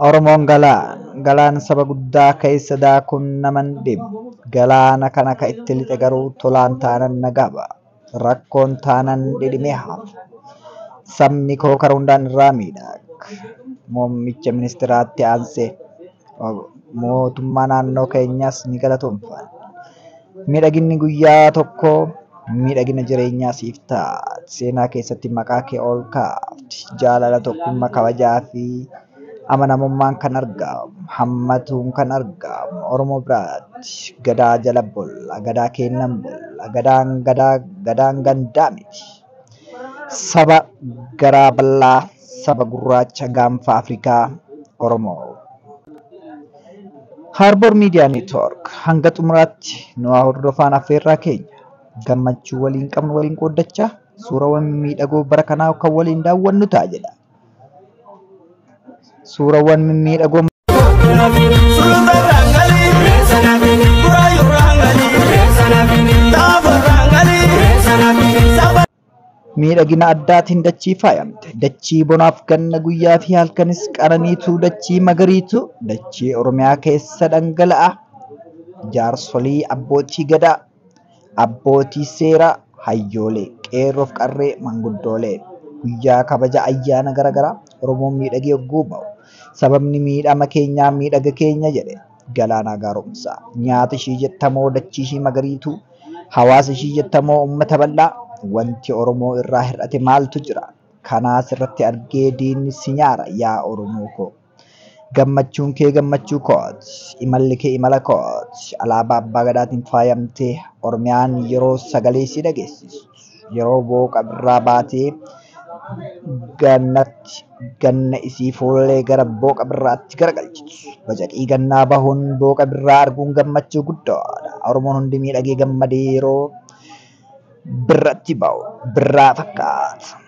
Oromoon galaan, galaan saba guddaa keessa daakuun nama hin dhibu. Galaana kana ka itti lixe garuu tolaan taanan nagaa ba'a. Rakkoon taanan dhidhimee hafa. Sabni koo kara hundaan irraa miidhaga. Muummicha ministiraatti aansee. mootummaa naannoo keenyaas ni galatoomfanna. Miidhaginni guyyaa tokkoo miidhagina jireenyaa siif ta'a. Seenaa keessatti maqaa kee ol kaafti. Jaalala, tokkummaa, kabajaa fi amanamummaan kan argamu, hammatuun kan argamu Oromoo biraatti. Gadaa jala bulla, gadaa keennan bulla, gadaan gadaa, gadaan gandaa miti. Saba garaa bal'aa. saba gurraacha gaanfa Afrikaa Oromoo. Harbour Media Network hanga xumuraatti nu haa hordofaan affeerraa keenya. Gammachuu waliin qabnu waliin qooddachaa suurawwan mimmiidhagoo bara kanaa kan waliin daawwannu ta'a jedha. Suurawwan mimmiidhagoo Saba Miidhagina addaatiin dachii faayamte, dachii bonaaf ganna guyyaa fi halkanis qananiitu, dachii magariitu, dachii Oromiyaa keessa dhangala'a. Jaarsolii abbootii gadaa, abbootii seeraa, hayyoolee, qeerroof qarree, manguddoolee guyyaa kabaja ayyaana garaagaraa Oromoon miidhagee yogguu ba'u sababni miidhama keenyaa miidhaga keenya jedhe Galaanaa Gaaromsaa. Nyaata ishii jettamoo dachii ishii magariituu? Hawaasa ishii jettamoo ummata bal'aa? Wanti Oromoo irraa hir'ate maaltu jira? Kanaa sirratti argee diinni si nyaara yaa Oromoo koo. Gammachuun kee gammachuu kooti. Imalli kee imala kooti. Alaabaa Abbaa Gadaatiin faayamtee Oromiyaan yeroo sagalee si dhageessistu. yeroo booqa birraa baatee gannatti ganna isii fuullee gara booqa birraatti garagalchitu. Bacaqii gannaa bahuun booqa birraa arguun gammachuu guddaadha. Oromoon hundi miidhagee gammadee yeroo birratti bahu birraa fakkaata.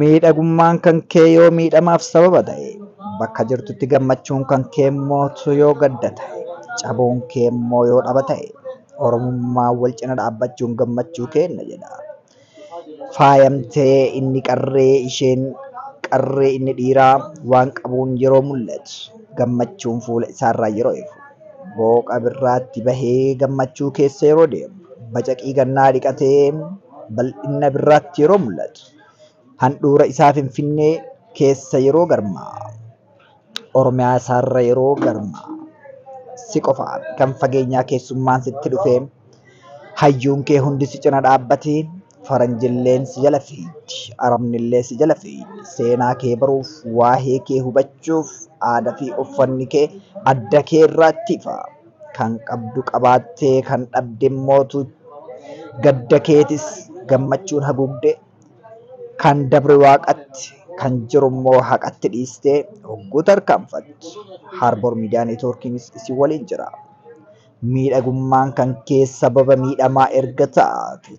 Miidhagummaan kan kee yoo miidhamaaf sababa ta'e, bakka jirtutti gammachuun kan kee immoo utuu yoo gadda ta'e, cabuun kee immoo yoo dhaba ta'e, Oromummaan wal cina dhaabbachuun gammachuu keenna jedha. Faayamtee inni qarree, isheen qarree inni dhiiraa waan qabuun yeroo mul'atu, gammachuun fuula isaarraa yeroo ifu, booqa birraatti bahee gammachuu keessa yeroo deemu, bacaqii gannaa dhiqatee, bal'inna birraatti yeroo mul'atu, handhuura isaa Finfinnee keessa yeroo garmaa'u, Oromiyaa isaarra yeroo garmaa'u, si qofaa miti kan fageenyaa keessummaan sitti dhufee, hayyuun kee hundi si cina dhaabbatee, faranjilleen si jala fiigdi, arabnillee si jala fiigdi, seenaa kee baruuf, waahee kee hubachuuf, aada fi uffanni kee adda kee irraatti ifa. Kan qabdu qabaattee kan dhabde immootu gadda keetis gammachuun haguugde. Kan dabre waaqatti, kan jiru immoo haqatti dhiistee hogguu tarkaanfattu Harbour Media Networkiinis isin waliin jira. Miidhagummaan kan kee sababa miidhamaa erga taate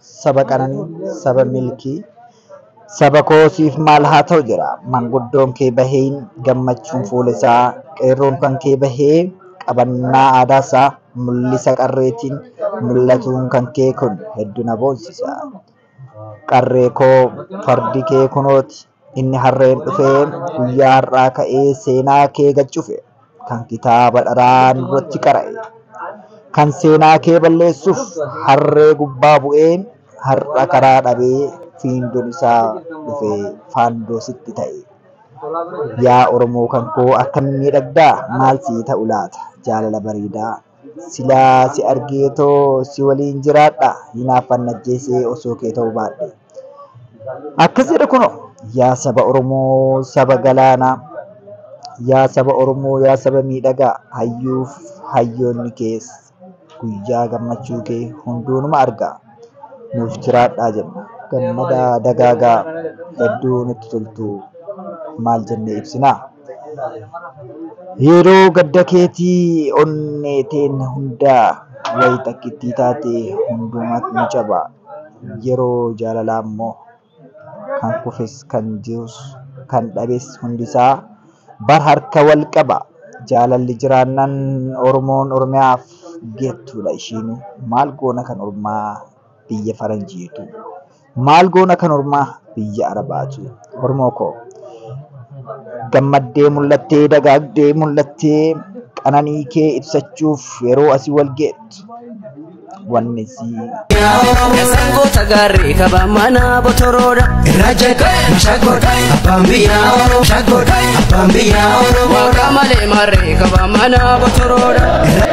Saba qananii, saba milkii, saba koo siif maal haa ta'u jira. Manguddoon kee bahee gammachuun fuula isaa, qeerroon kan kee bahee qabannaa aadaa isaa mul'isa qarreetiin mul'atuun kan kee kun heddu na boonsisa. Qarree koo fardi kee kunooti. Inni harreen dhufee guyyaa har'aa ka'ee seenaa kee gad cufe kan kitaaba dharaa nurratti qara'e kan seenaa kee balleessuuf harree gubbaa bu'ee har'a karaa dhabee fiindoon isaa dhufee faandoo sitti ta'e. Yaa Oromoo kan koo akkamiin miidhagdaa maal sii ta'u laata jaalala bareedaa. Silaa si argee too si waliin jiraadha hinaaffaan najjeesee osoo kee ta'uu baadhe. Akkas jedha kunoo yaa saba Oromoo saba galaanaa yaa saba Oromoo yaa saba miidhagaa hayyuuf hayyoonni kees guyyaa gammachuu kee hunduunuma argaa nuuf jiraadhaa jenna gammadaa dagaagaa hedduu nutti toltuu maal jennee ibsinaa. Yeroo gadda keetii onnee teen hundaa wayii takkittii taatee hundumaat ni caba yeroo jaalalaa immoo kan kufes kan jirus kan dhabes hundisaa bar harka wal qaba jaalalli jiraannaan oromoon oromiyaaf geettuudha ishiinuu maal goona kan ormaa biyya faranjiitu. Maal goona kan ormaa biyya arabaatu. Oromoo koo. Gammaddee mul'attee dagaagdee mul'attee qananii kee ibsachuuf yeroo asii wal geettu. Wanni sii Eessaan goota gaarree qaba mana botoroodha. Irraa jeeqee shaggoodha abbaan biyyaa oro shaggoodha abbaan biyyaa oro. Waaqa malee maarree qaba mana botoroodha. Irraa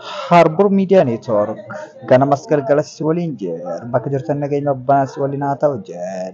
Harbor Media Network ganamas galgalas si waliin jira. Bakka jirtan nageenya abbaan si waliin haa ta'u jedha.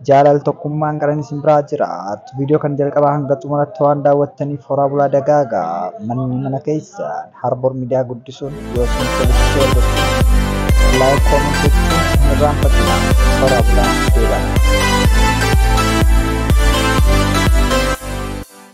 Jaalal tokkummaan garan isin biraa jiraatu. Viidiyoo kan jalqabaa hanga xumuraatti waan daawwattaniif horaa bulaa dagaagaa. Manni mana keessan Harbor Media guddisuun yoo isin tolchee gochuun laayik koomentii gochuun irraan fakkii horaa bulaa deebaa.